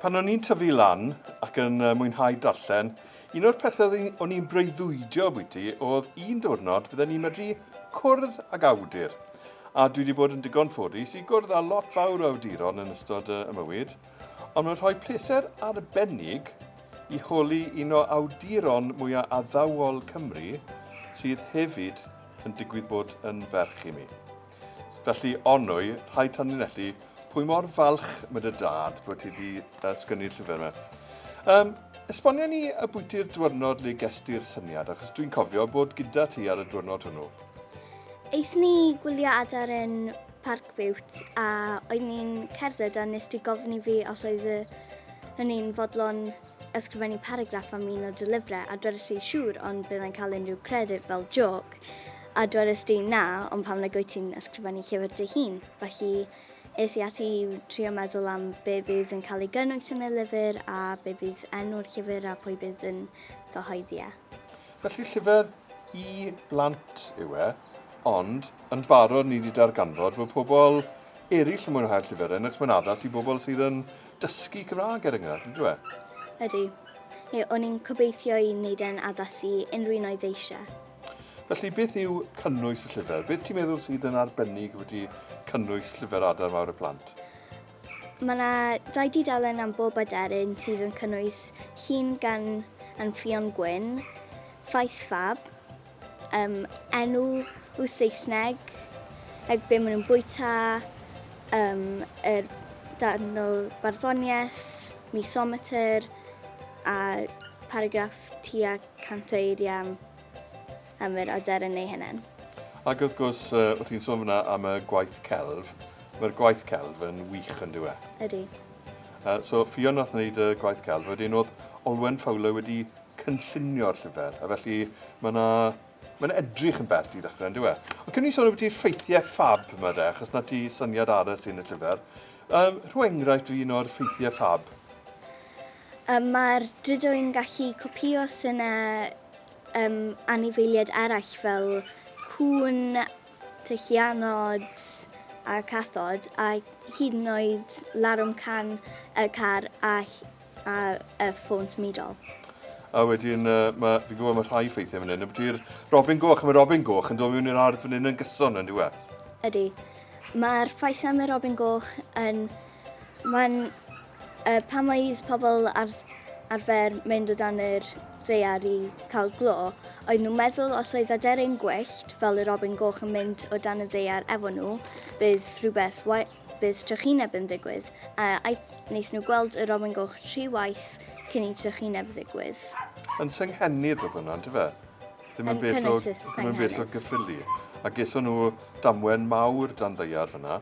Pan o'n i'n tyfu lan ac yn uh, mwynhau darllen, un o'r pethau o'n i'n breuddwydio bwyty oedd un diwrnod fydden ni'n medru cwrdd ag awdur. A dwi wedi bod yn digon ffodus i gwrdd â lot fawr o awduron yn ystod uh, y mywyd, ond mae'n rhoi pleser arbennig i holi un o awduron mwyaf addawol Cymru sydd hefyd yn digwydd bod yn ferch i mi. Felly, onwy, rhaid tanlinellu pwy mor falch mae dy dad bod ti wedi uh, sgynnu'r llyfr yma. Um, esbonio ni y bwyty'r diwrnod le gestu'r syniad, achos dwi'n cofio bod gyda ti ar y diwrnod hwnnw. Eith ni gwylio adar yn Parc Biwt a oedd ni'n cerdded a nes ti gofyn i fi os oedd hynny'n fodlon ysgrifennu paragraff am un o dy lyfrau a dwedais i siŵr ond byddai'n cael unrhyw credyd fel joc a dwedais di na ond pam nag wyt ti'n ysgrifennu llyfr dy hun felly es i ati i trio meddwl am be bydd yn cael ei gynnwys yn y lyfr a be bydd enw'r llyfr a pwy bydd yn gyhoeddi e. Felly llyfr i blant yw e, ond yn barod ni wedi darganfod bod pobl eraill yn mwynhau'r llyfr hyn achos mae'n addas i bobl sydd yn dysgu Cymraeg er enghraifft, yn dweud? Ydy. Ie, o'n i'n cobeithio i wneud e'n addas i unrhyw un oedd eisiau. Felly, beth yw cynnwys y llyfr? Beth ti'n meddwl sydd yn arbennig wedi cynnwys llyfr Adar Mawr y Plant? Mae yna dau dudalen am bob aderyn sydd yn cynnwys Llun gan Anfion Gwyn, Ffaith Fab, Yym, enw w Saesneg, like be ma nhw'n bwyta, yym, yr darn o barddoniaeth, misometer, a paragraff tua cant o eiriau am am yr aderyn ei hunan. Ac wrth gwrs, yy, o' ti'n sôn fan'na am y gwaith celf, ma'r gwaith celf yn wych yndyw e? Ydi. Yy, so Ffion nath wneud y gwaith celf, wedyn o'dd Olwen Fowler wedi cynllunio'r llyfr, a felly mae yna... mae'n edrych yn bert i ddechrau, yn dyw e? Ond cyn i ni sôn ambiti ffeithiau ffab 'ma de, achos 'na ti syniad arall sy'n y llyfr, um, rho enghraifft o un o'r ffeithiau ffab. Um, mae'r Drydoi'n gallu copïo synau um, anifeiliaid eraill fel cŵn, tylluanod a cathod, a hyd yn oed larwm can y car a ar y ffôn symudol. A wedyn, uh, ma, fi'n gwybod mae rhai ffeithiau fan hyn. Ydy'r Robin Goch, mae Robin Goch yn dod mewn i'r ardd fan hyn yn gyson yn diwedd. Ydy. Mae'r ffaith am y Robin Goch yn... Mae'n... Uh, pan mae pobl ar, arfer mynd o dan yr ddear i cael glo, oedd nhw'n meddwl os oedd aderyn gwyllt fel y Robin Goch yn mynd o dan y ddear efo nhw, bydd rhywbeth Bydd trychineb yn ddigwydd, a wnaethon nhw gweld y robin goch tri waith cyn i trychineb ddigwydd. Yn Senghennydd oedd hwnna, yndyfe? Ddim yn bell o, ddim yn bell o Gyffili. A geson nhw damwen mawr dan ddeiar fyna.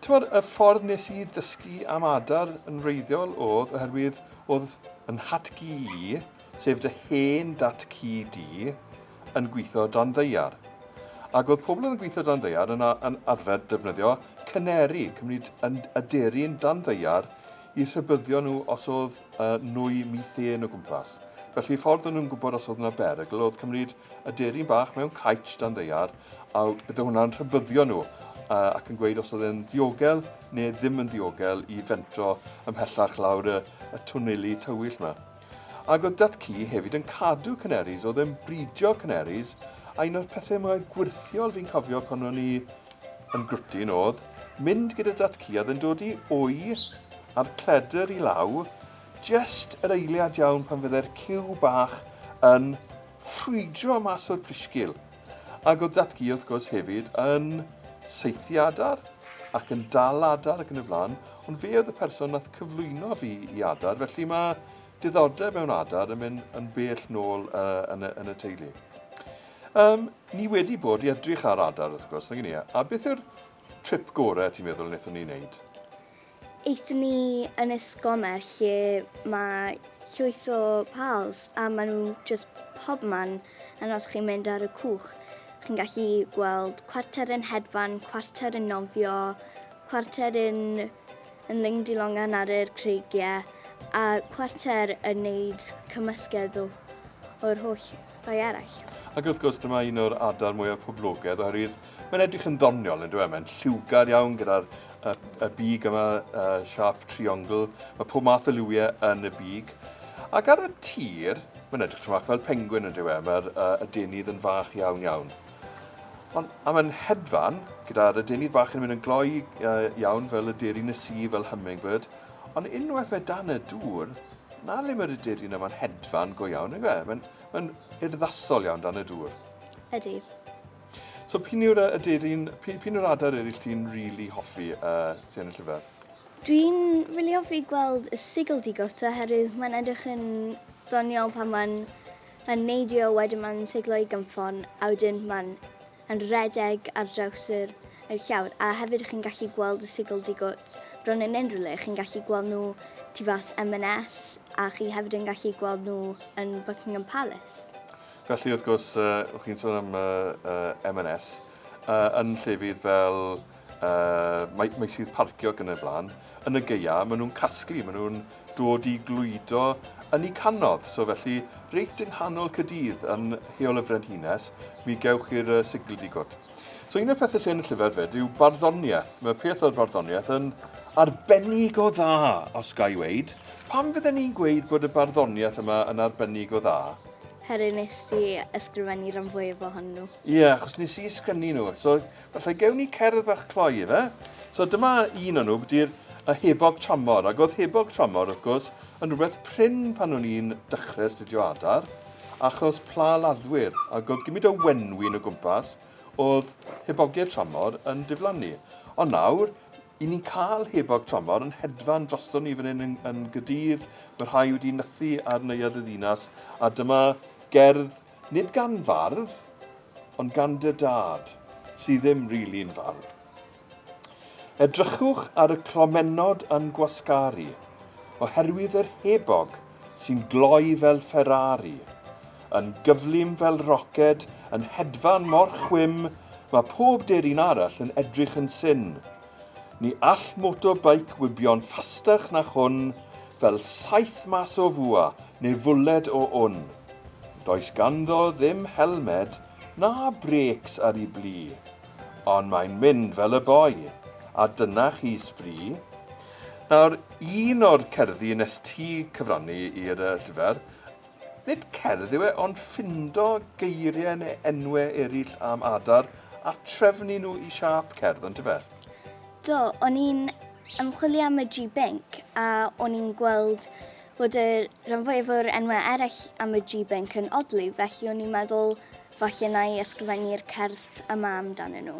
Tymod, y ffordd nes i ddysgu am adar yn wreiddiol oedd oherwydd oedd yn hatgi i sef dy hen dat ci di, yn gwitho dan ddaear. Ac oedd pobl oedd yn gwitho dan ddaear yn a- yn arfer defnyddio caneri, cymryd yn aderyn dan ddaear i rhybyddio nhw os oedd yy nwy mîthên o gwmpas. Felly ffordd o'n nhw'n gwybod os oedd yna berygl oedd cymryd aderyn bach mewn caets dan ddaear a bydde hwnna'n rhybyddio nhw yy ac yn gweud os oedd e'n ddiogel neu ddim yn ddiogel i fentro ymhellach lawr y y twneli tywyll 'ma. Ac oedd dat ci hefyd yn cadw canaries, oedd e'n bridio canaries, a un o'r pethau mwyaf gwyrthiol fi'n cofio pan o'n i yn grwtyn oedd mynd gyda dat ci a oedd e'n dod i wy a'r cledr i law, jest yr eiliad iawn pan fyddai'r ciw bach yn ffrwydro mas o'r plisgil. Ac oedd Datgu, wrth gwrs, hefyd yn saethu adar ac yn dal adar ac yn y blaen, ond fe oedd y person nath cyflwyno fi i adar, felly mae diddordeb mewn adar yn mynd yn bell nôl uh, yn, y, yn y teulu. Um, ni wedi bod i edrych ar adar, wrth gwrs, nag ni, a beth yw'r trip gorau ti'n meddwl wnaethon ni wneud? Aethon ni yn esgomer lle mae llwyth o pals a maen nhw just pob man and os chi'n mynd ar y cwch chi'n gallu gweld cwarter yn hedfan, cwarter yn nofio, cwarter yn, yn lingdi longan ar yr creigiau a cwarter yn neud cymysgedd o, o'r holl rai eraill. Ac wrth gwrs dyma un o'r adar mwyaf poblogedd oherwydd Mae'n edrych yn ddoniol, yn dweud. Mae'n lliwgar iawn gyda'r y, y big yma, y siap triongl. Mae pob math o liwiau yn y big. Ac ar y tir, mae'n edrych tymac fel pengwyn yn dweud. Mae'r uh, adenydd yn fach iawn iawn. Ond a mae'n hedfan, gyda'r adenydd bach yn mynd yn gloi uh, iawn fel y derin y si, fel hummingbird. Ond unwaith mae dan y dŵr, na le mae'r aderin yma'n hedfan go iawn, yn dweud. Mae'n mae urddasol iawn dan y dŵr. Ydy. So p'un yw'r yy aderyn... P'un p'un yw'r adar eryll ti'n rili hoffi yy sy yn y llyfr? Dwi'n rili hoffi gweld y sigl digot oherwydd mae'n edrych yn ddoniol pan mae'n yn neidio wedyn mae'n siglo i gynffon a wedyn mae'n yn redeg ar draws yr yr llawr a hefyd chi'n gallu gweld y sigl digot bron yn unrhyw le chi'n gallu gweld nhw tu fas M&S a chi hefyd yn gallu gweld nhw yn Buckingham Palace. Felly, wrth gwrs, uh, chi'n sôn am uh, uh, M&S, uh, yn llefydd fel uh, mae, mae sydd parcio ac yn y blaen, yn y geia, maen nhw'n casglu, maen nhw'n dod i glwydo yn ei canodd. So felly, reit yng nghanol Cydydd yn heol y Frenhines, mi gewch chi'r uh, sigl digod. So un o'r pethau sy'n y llyfr fyd yw barddoniaeth. Mae peth o'r barddoniaeth yn arbennig o dda, os ga i weid. Pam fydden ni'n gweud bod y barddoniaeth yma yn arbennig o dda? Heri nes ti ysgrifennu rhan fwyaf ohonyn nhw. Ie, yeah, achos nes i ysgrifennu nhw. So, falle gewn ni cerdd fach cloi efe. So, dyma un o'n nhw, byddu'r y hebog tramor. Ac oedd hebog tramor, wrth gwrs, yn rhywbeth prin pan o'n i'n dechrau astudio adar, achos pla laddwyr. Ac oedd gymryd o wenwyn o gwmpas, oedd hebogiau tramor yn diflannu. Ond nawr, I ni'n cael hebog tramor yn hedfan drosto ni fan hyn yn yn Nghaerdydd, mae rhai wedi nythu ar neuadd y ddinas, a dyma gerdd nid gan fardd, ond gan dy dad, sydd ddim rili'n fardd. Edrychwch ar y clomennod yn gwasgaru, oherwydd yr hebog sy'n gloi fel Ferrari, yn gyflym fel roced, yn hedfan mor chwim, mae pob deryn arall yn edrych yn syn. Ni all motorbike wibio'n ffastach na hwn, fel saeth mas o fwa neu fwled o wn. Does ganddo ddim helmed na brêcs ar ei blu, ond mae'n mynd fel y boi, a dyna chi sbri. Nawr, un o'r cerddi nes ti cyfrannu i'r llyfr, nid cerdd yw e, ond ffindo geiriau neu enwe eraill am adar a trefnu nhw i siâp cerdd, on'd yfe? Do, o'n i'n ymchwilio am y G Binc a o'n i'n gweld bod y rhan fwyaf o'r enwau eraill am y G Binc yn odli, felly o'n i'n meddwl falle na i ysgrifennu'r cerdd yma amdanyn nhw.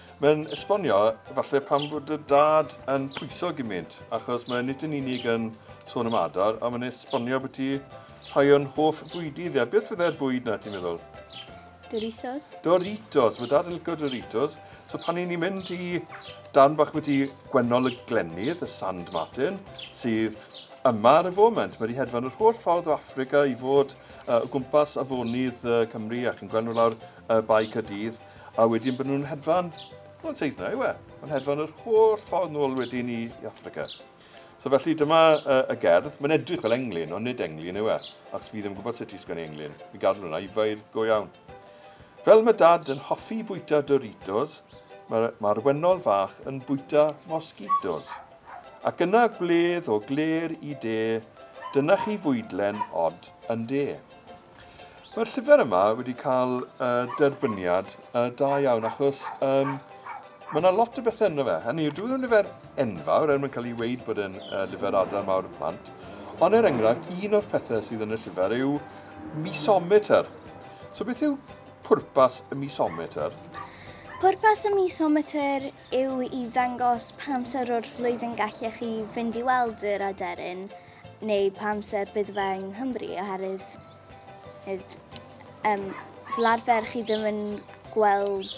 Mae'n esbonio falle pam fod dy dad yn pwyso gymint, achos mae nid yn unig yn sôn am adar, ond mae'n esbonio bod ti rhai o'n hoff fwydi ddi, a beth fydde'r bwyd na ti'n meddwl? Doritos. Doritos, mae dad yn licio Doritos. So pan i ni'n mynd i dan bach wedi gwennol y glennydd, y Sand Martin, sydd yma ar y foment. Mae wedi hedfan yr holl ffordd o Africa i fod uh, o gwmpas afonydd uh, Cymru a chi'n gweld nhw lawr y uh, bae Cadydd. A wedyn bod nhw'n hedfan, wel yn Seisna yw e, yn hedfan yr holl ffordd nôl wedyn i, i Affrica. So felly dyma uh, y gerdd, mae'n edrych fel englyn, ond nid englyn yw e, achos fi ddim yn gwybod sut i sgwennu englyn, mi gadw hwnna i feirdd go iawn. Fel mae dad yn hoffi bwyta Doritos, mae'r ma wennol fach yn bwyta mosquitos. Ac yna gwledd o gler i de, dyna chi fwydlen od yn de. Mae'r llyfr yma wedi cael y derbyniad y da iawn achos um, mae yna lot o bethau ynddo fe. Hynny yw, dwi'n lyfr enfawr er mwyn cael ei weid bod yn uh, lyfr adar mawr y plant. Ond er enghraifft, un o'r pethau sydd yn y llyfr yw misometer. So beth yw pwrpas y misometer? Pwrpas y misometer yw i ddangos pam sy'r o'r flwyddyn gallech chi fynd i weld yr aderyn neu pa amser bydd fe yng Nghymru oherwydd hyd, um, fel arfer chi ddim yn gweld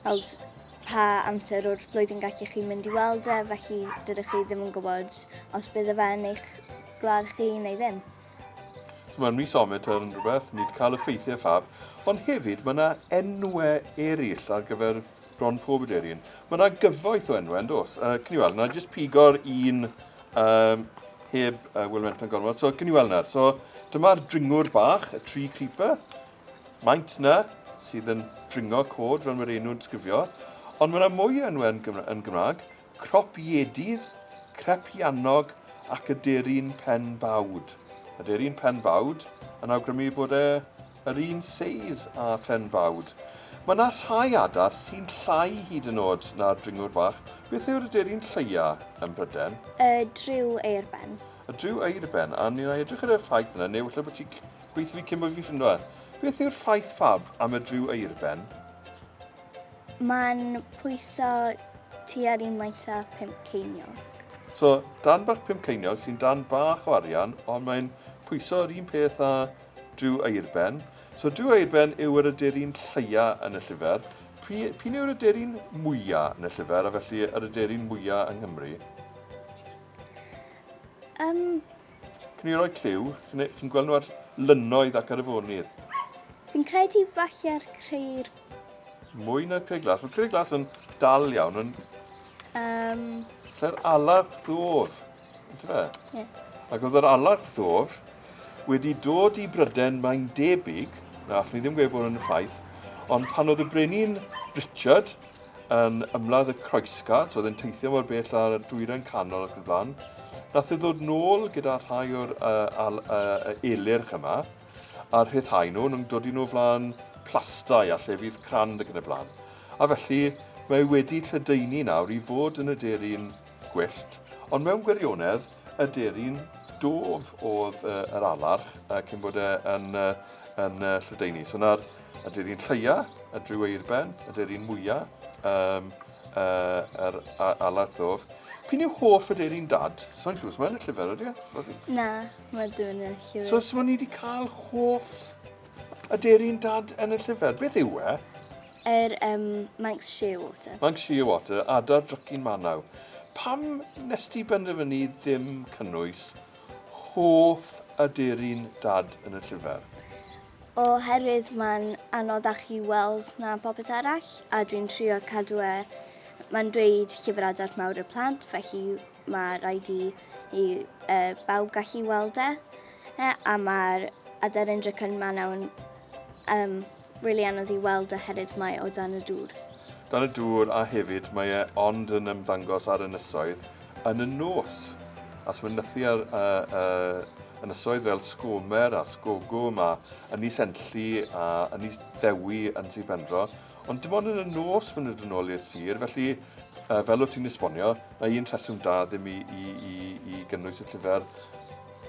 weld pa amser o'r flwyddyn gallu chi mynd i weld e, felly dydych chi ddim yn gwybod os bydd y fe yn eich gwlad chi neu ddim. Mae'r mis ometr yn rhywbeth, nid cael y ffeithiau ffab, ond hefyd mae yna enwau eraill ar gyfer Bron pob aderyn. Mae yna gyfoeth o enwau, yn dos. Uh, cyn i weld, na jyst pigo'r un um, heb uh, Will Menton gormod. So, cyn i weld nawr. So, dyma'r dringwr bach, y tree creeper. Maint na, sydd yn dringo cod, fel mae'r enw'n sgrifio. Ond mae yna mwy o enwau yn, Gymra yn Gymraeg. Cropiedydd, Crepiannog ac Aderyn Pen Bawd. Aderyn Pen Bawd yn awgrymu bod e yr un seis â Phen Bawd. Mae yna rhai adar sy'n llai hyd yn oed na'r dringwr bach. Beth yw'r aderyn lleia ym Mhryden? Y dryw eirben. Y dryw eirben, a ni'n edrych ar y ffaith yna, neu efallai bod ti'n gweithio fi cyn bod fi'n ffindo fe. Beth yw'r ffaith fab am y dryw eirben? Mae'n pwyso tua'r un maint â pump ceiniog. So, darn bach pump ceiniog sy'n darn bach o arian, ond mae'n pwyso yr un peth â Duw Airben. So, Duw Airben yw yr aderyn lleia yn y llyfr. Pwy, p'un yw'r aderyn mwya yn y llyfr, a felly yr aderyn mwya yng Nghymru? Yym, Can you roi cliw? Chi'n gweld nhw ar lynoedd ac ar y fonydd. Fi'n credu falle'r creir. Mwy na creir glas. Mae creir glas yn dal iawn. Yn... Um... Lle'r alar ddof. Ydw fe? Ie. Ac oedd yr alar ddof wedi dod i Bryden mae'n debyg, na, allwn ni ddim gweud bod yn y ffaith, ond pan oedd y brenin Richard yn ymladd y croesgart, oedd yn teithio mor bell ar y dwyren canol ac yn blaen. Nath e ddod nôl gyda rhai o'r uh, al, uh, elyrch yma, a rhyddhau nhw, nhw'n dod i nhw flaen plastau a llefydd crand ac yn y blaen. A felly, mae wedi lledaenu nawr i fod yn y derin gwyllt, ond mewn gwirionedd, y derin dof oedd uh, yr alarch uh, cyn bod e yn, uh, yn uh, lledaenu. So na'r Ydy'r un lleia, y dryw eirben, ydy'r un mwya, um, uh, yr alat ddof. Pyn yw hoff ydy'r un dad? So'n siŵr, mae'n y llyfr ydy? E? Na, mae dwi'n yn llyfr. So, so ni wedi cael hoff ydy'r un dad yn y llyfr. Beth yw e? Yr er, um, Manx Shearwater. Manx Shearwater, adar drycyn manaw. Pam nes ti benderfynu ddim cynnwys hoff ydy'r un dad yn y llyfr? Oherwydd mae'n anodd â chi weld na phopeth arall a dwi'n trio cadw e, mae'n dweud llyfr adar mawr y plant felly mae rhaid i i uh, bawb gallu weld e. e a mae'r aderyn dricon manaw'n um, really anodd i weld oherwydd mae o dan y dŵr. Dan y dŵr a hefyd mae e ond yn ymddangos ar ynysoedd Yn y nos, os mae'n nythu ar y y ynysoedd fel Sgomer a Sgogwm a Ynys Enlli a Ynys Dewi yn Sir Benfro, ond dim ond yn y nos maen nhw'n dod nôl i'r sir, felly yy fel wyt ti'n esbonio, mae un rheswm da ddim i i i i gynnwys y llyfr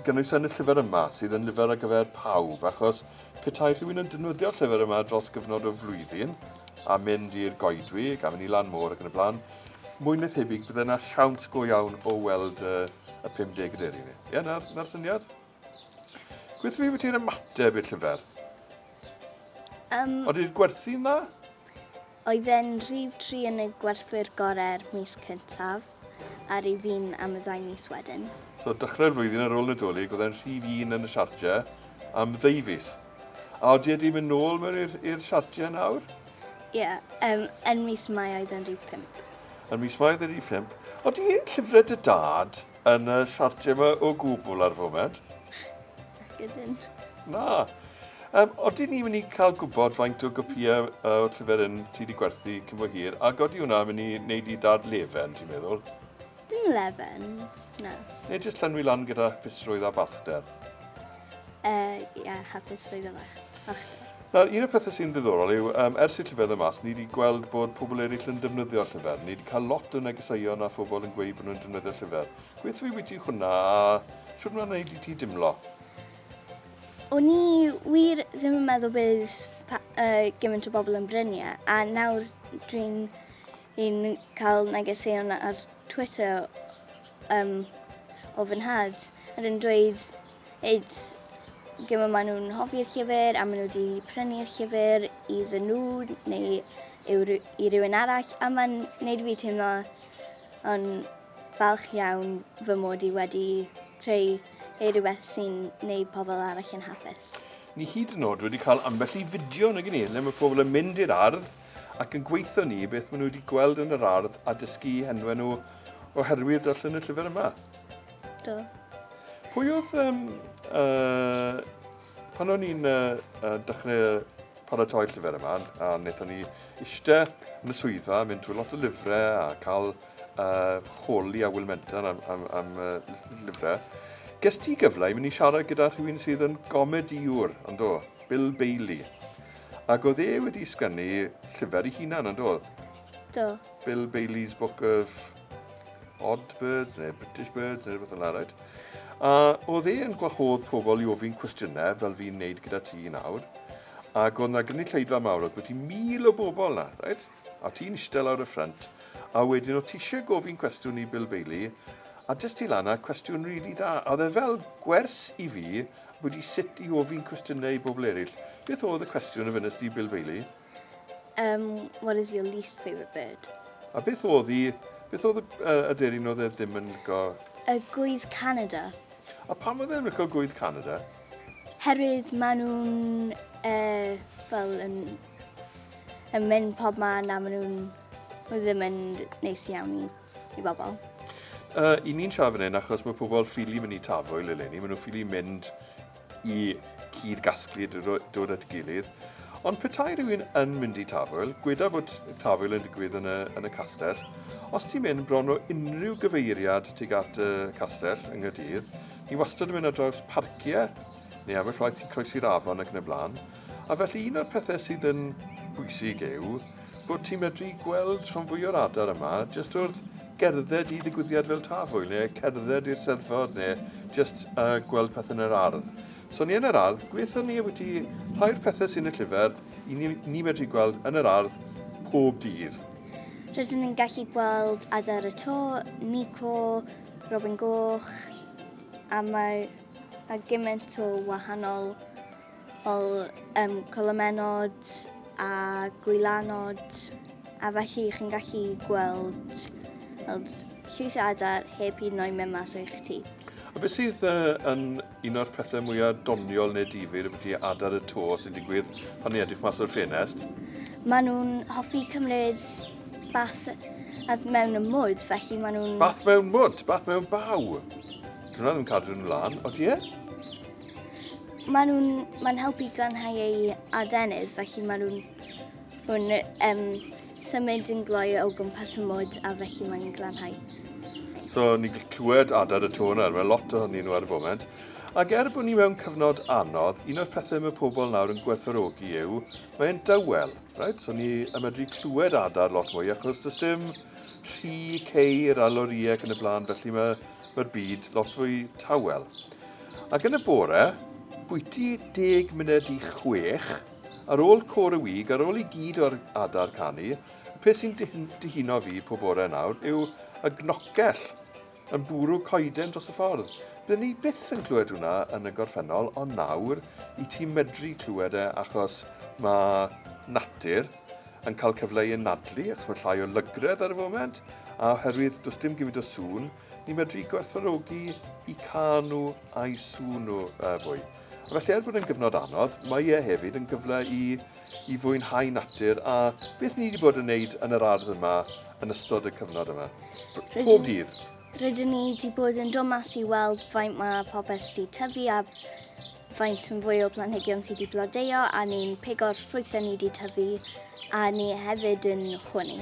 gynnwys yn y llyfr yma, sydd yn lyfr ar gyfer pawb, achos petai rhywun yn defnyddio'r llyfr yma dros gyfnod o flwyddyn, a mynd i'r goedwig, a mynd i lan môr ac yn y blaen, Mwy na thebyg bydde 'na siawns go iawn o weld y, y 50 yn eri ni. Ie, na'r, na'r syniad? Beth fi ti'n ymateb i'r llyfr? Um, Oedd i'r gwerthu'n dda? Oedd e'n rhif tri yn y gwerthwyr gorau'r mis cyntaf, a rhif fi'n am y ddau mis wedyn. So, dechrau'r flwyddyn ar ôl Nadolig, oedd e'n rhif un yn y siartiau am ddwy fus. A odi wedi mynd nôl mewn i'r siartiau nawr? Ie, yeah, um, yn mis Mai oedd yn rhif 5. Yn mis Mai oedd yn rhif 5. Odi llyfrau dy dad yn y siartiau yma o gwbl ar y foment? Gydyn. Na. Um, odi ni'n mynd i cael gwybod faint o gopiau uh, o'r llyfr yn ti wedi gwerthu cyn bo hir, ac odi hwnna'n mynd i wneud i dad lefen, ti'n meddwl? Dim lefen, na. Neu jyst llenwi lan gyda hapusrwydd a balchder? Uh, ie, yeah, hapusrwydd a balchder. Nawr, un o'r pethau sy'n ddiddorol yw, um, ers i'r llyfr yma, ni wedi gweld bod pobl eraill yn defnyddio'r llyfr. Ni wedi cael lot o negeseuon a phobl yn gweud bod nhw'n defnyddio'r llyfr. Gweithio fi wyt hwnna a siwr mae'n gwneud i ti dimlo? O'n i wir ddim yn meddwl bydd uh, gymaint o bobl yn brynu e, a nawr dwi'n Fi'n cael negeseuon ar Twitter yym o fy nhad a nhw'n dweud id gymaint maen nhw'n hoffi'r llyfr a maen nhw 'di prynu'r llyfr iddyn nhw neu yw ry- i rywun arall a ma'n neud fi teimlo yn falch iawn fy mod i wedi creu yy rhywbeth sy'n neud pobl arall yn hapus. Ni hyd yn o'd wedi cael ambell i fideo nag 'yn ni le ma' pobl yn mynd i'r ardd ac yn gweithio ni beth maen nhw wedi gweld yn yr ardd a dysgu henwe nhw oherwydd darllen y llyfr yma. Do. Pwy oedd... Um, uh, pan o'n i'n uh, uh, dechrau paratoi llyfr yma, a wnaethon ni eistedd yn y swyddfa, mynd trwy lot o lyfrau a cael uh, choli a Will Menton am, am, am uh, lyfrau. Ges ti gyfle i mynd i siarad gyda rhywun sydd yn gomediwr, ond do, Bill Bailey. Ac oedd e wedi sgynnu llyfr i hunan, yn doedd? Do. Bill Bailey's Book of Odd Birds, neu British Birds, neu rhywbeth yn larwyd. A oedd e yn gwahodd pobl i ofyn cwestiynau, fel fi'n neud gyda ti nawr. Ac oedd yna gynulleidfa mawr, oedd bwyty mil o bobl na, rhaid? A ti'n ishte lawr y ffrynt a wedyn o tishe gofyn cwestiwn i Bill Bailey a dest ti lan a cwestiwn rili dda a oedd e fel gwers i fi ambwti sut i ofyn cwestiyne i bobl erill. Beth oedd y cwestiwn a fynest di Bill Bailey? Umm what is your least favourite bird? A beth oedd i beth oedd y aderyn oedd e ddim yn lico? Y gwydd Canada. A pam oedd e ddim yn lico gwydd Canada? Herwydd ma nhw'n fel yn yn mynd pob man a maen nhw'n nhw ddim yn neis iawn i, i bobl. Uh, I ni'n siarad fan hyn achos mae pobl ffili mynd i tafwyl eleni, maen nhw'n ffili mynd i cyd gasglu dod at gilydd. Ond petai rhywun yn mynd i tafwyl, gweda bod tafwyl yn digwydd yn y, yn y castell, os ti'n mynd bron o unrhyw gyfeiriad tuag at y castell yng Nghydydd, ni wastad yn mynd ar draws parciau neu aberffaith i croesi'r afon ac yn y blaen, A felly un o'r pethe sydd yn bwysig yw bod ti'n medru gweld rhan fwy o'r adar yma jyst wrth gerdded i ddigwyddiad fel Tafwyl neu cerdded i'r Seddfod neu jyst uh, gweld pethau yn yr ardd. So ni yn yr ardd, gweithio ni wedi rhai'r pethau sy'n y llyfr i ni, ni medru gweld yn yr ardd pob dydd. Rydyn ni'n gallu gweld adar y to, Nico, Robin Goch, a mae, mae gymaint o wahanol fel yym colomenod a gwylanod a felly chi'n gallu gweld fel llwyth o adar heb hyd yn oed mynd mas o'ch tŷ. A beth sydd yy yn un o'r pethe mwya doniol ne' difyr ambyti adar y to sy'n digwydd pan ni edrych mas o'r ffenest? Ma' nw'n hoffi cymryd bath a mewn y mwd felly ma' nw'n... Bath mewn mwd? Bath mewn baw? Dyw wnna ddim yn cadw nw lan, odi e? Maen nhw'n maen nhw helpu glanhau eu adenydd, felly maen nhw'n nhw'n um, symud yn gloi o gwmpas y mwd a felly maen nhw'n glanhau. So ni'n gallu clywed adad y tôn ar, mae lot ohonyn nhw ar y foment. Ac er bod ni mewn cyfnod anodd, un o'r pethau mae pobl nawr yn gwerthorogi yw, mae'n dawel, right? so ni yn medru clywed adar lot mwy achos does dim rhy ceir a lorïau ac yn y blaen, felly mae'r mae byd lot fwy tawel. Ac yn y bore, bwyty deg munud i chwech, ar ôl Côr y Wig, ar ôl i gyd o'r adar canu, y peth sy'n dihuno fi pob bore nawr yw y gnocell yn bwrw coeden dros y ffordd. Byddwn ni byth yn clywed hwnna yn y gorffennol, ond nawr i ti medru clywed e achos mae natur yn cael cyfle i anadlu, achos mae llai o lygredd ar y foment, a oherwydd does dim gymaint o sŵn, Ni'n medru gwerthfawrogi i cael nhw a'i sŵn nhw fwy. A felly er bod yn gyfnod anodd, mae e hefyd yn gyfle i, i fwynhau natur a beth ni wedi bod yn wneud yn yr ardd yma yn ystod y cyfnod yma. Pob dydd. Rydyn ni wedi bod yn dod mas i weld faint mae popeth wedi tyfu a faint yn fwy o blanhigion sydd wedi blodeuo a ni'n pigo'r ffrwythau ni wedi tyfu a ni hefyd yn chwynnu.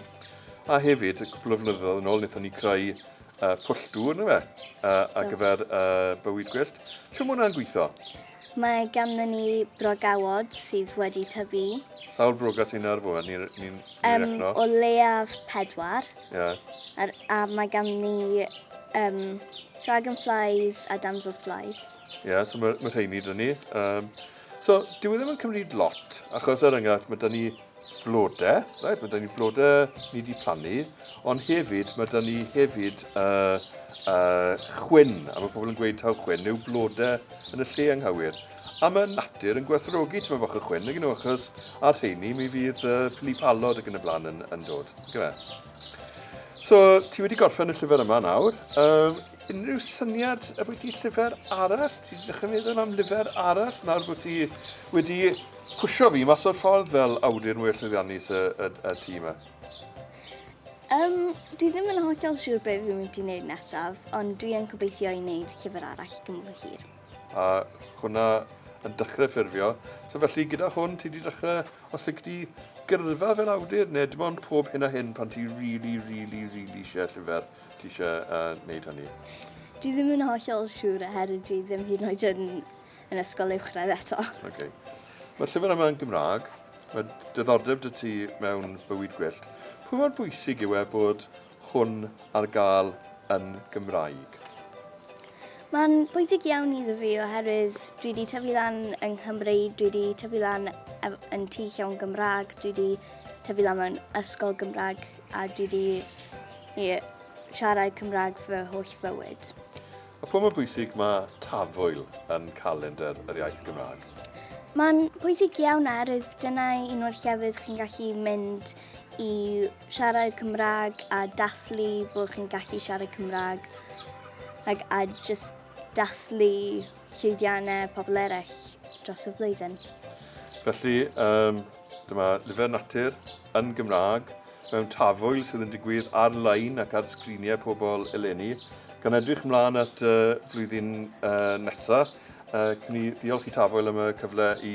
A hefyd, cwpl o flynyddoedd yn ôl, wnaethon ni creu uh, pwll dŵr, na fe, uh, ar gyfer uh, bywyd gwyllt. Siw mae hwnna'n gweithio? Mae ganddo ni brogawod sydd wedi tyfu. Sawl broga sy'n ar fwy? Ni'n ni, ni um, rechno? O leiaf pedwar. Yeah. Ar, a mae ganddo ni um, dragonflies a damselflies. Ie, yeah, so mae, mae rheini dyn ni. Um, so, dyw e ddim yn cymryd lot, achos er enghraifft, mae dyn ni flodau, right? mae dyn ni flodau ni wedi plannu, ond hefyd, mae dyn ni hefyd uh, uh, chwyn, a mae pobl yn gweud taw chwyn neu blodau yn y lle anghywir. A mae natur yn gwerthrogi tyma fach y chwyn, nag nhw, achos ar rheini mi fydd uh, pili palod ac yn y blaen yn, yn dod. Gyda. So, ti wedi gorffen y llyfr yma nawr. Um, Unrhyw syniad ambwyty llyfr arall? Ti'n dechrau meddwl am lyfr arall nawr bod ti wedi pwsio fi mas o'r ffordd fel awdur mwy llwyddiannus y, y, y tîm yma? Um, dwi ddim yn hollol siŵr beth fi'n mynd i wneud nesaf, ond dwi yn gobeithio i wneud llyfr arall i gymryd hir. A hwnna yn dechrau ffurfio. So felly gyda hwn ti wedi dechrau, os ydych chi gyrfa fel awdur neu dim ond pob hyn a hyn pan ti'n really, really, really eisiau llyfr, Ti eisiau uh, wneud hynny? Dwi ddim yn hollol siŵr oherwydd dwi ddim hyd yn oed yn, yn ysgol uwchradd eto. Okay. Mae'r llyfr yma yn Gymraeg. Mae diddordeb dy ti mewn bywyd gwyllt. Pwy mor bwysig yw e bod hwn ar gael yn Gymraeg? Mae'n bwysig iawn iddo fi oherwydd dwi wedi tyfu lan yng Nghymru, dwi wedi tyfu lan yn tu llawn Gymraeg, dwi wedi tyfu lan mewn ysgol Gymraeg. A dwi wedi i siarad Cymraeg fy holl fywyd. A pam yn bwysig mae Tafwyl yn calendr yr iaith Gymraeg? Mae'n pwysig iawn oherwydd dyna un o'r llefydd chi'n gallu mynd i siarad Cymraeg a dathlu bod chi'n gallu siarad Cymraeg ac a just dathlu llwyddiannau pobl eraill dros y flwyddyn. Felly, um, dyma nifer natur yn Gymraeg mewn tafwyl sydd yn digwydd ar-lein ac ar sgriniau pobl eleni, gan edrych mlaen at y flwyddyn nesaf. Cyn i ddiolch i Tafwyl am y cyfle i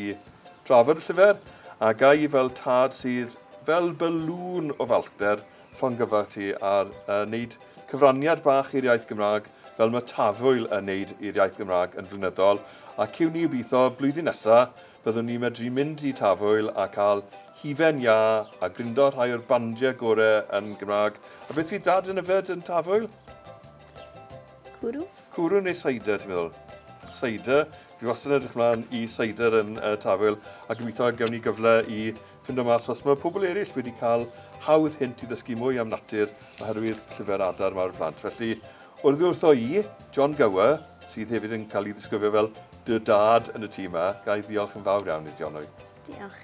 drafod y llyfr, a ga i fel tad sydd fel bylŵn o falchder llongyfarch ti ar wneud cyfraniad bach i'r iaith Gymraeg fel mae Tafwyl yn wneud i'r iaith Gymraeg yn flynyddol, a ciwn ni obeithio blwyddyn nesaf Byddwn ni'n medru mynd i Tafwyl a cael hufen iâ a grindo rhai o'r bandiau gore yn Gymraeg. A beth fydd Dad yn yfed yn Tafwyl? Cwrw. Cwrw neu cider, ti'n meddwl? Cider. Fi wastad yn edrych mlaen i cider yn uh, Tafwyl a gobeithio gewn ni gyfle i ffindo mas os mae pobl eraill wedi cael hawdd hint i ddysgu mwy am natur oherwydd llyfr adar mawr plant. Felly, Oddi wrtho i, John Gower, sydd hefyd yn cael ei ddisgrifio fel dy dad yn y tŷ yma, ga i ddiolch yn fawr iawn i ti, Onwy. Diolch.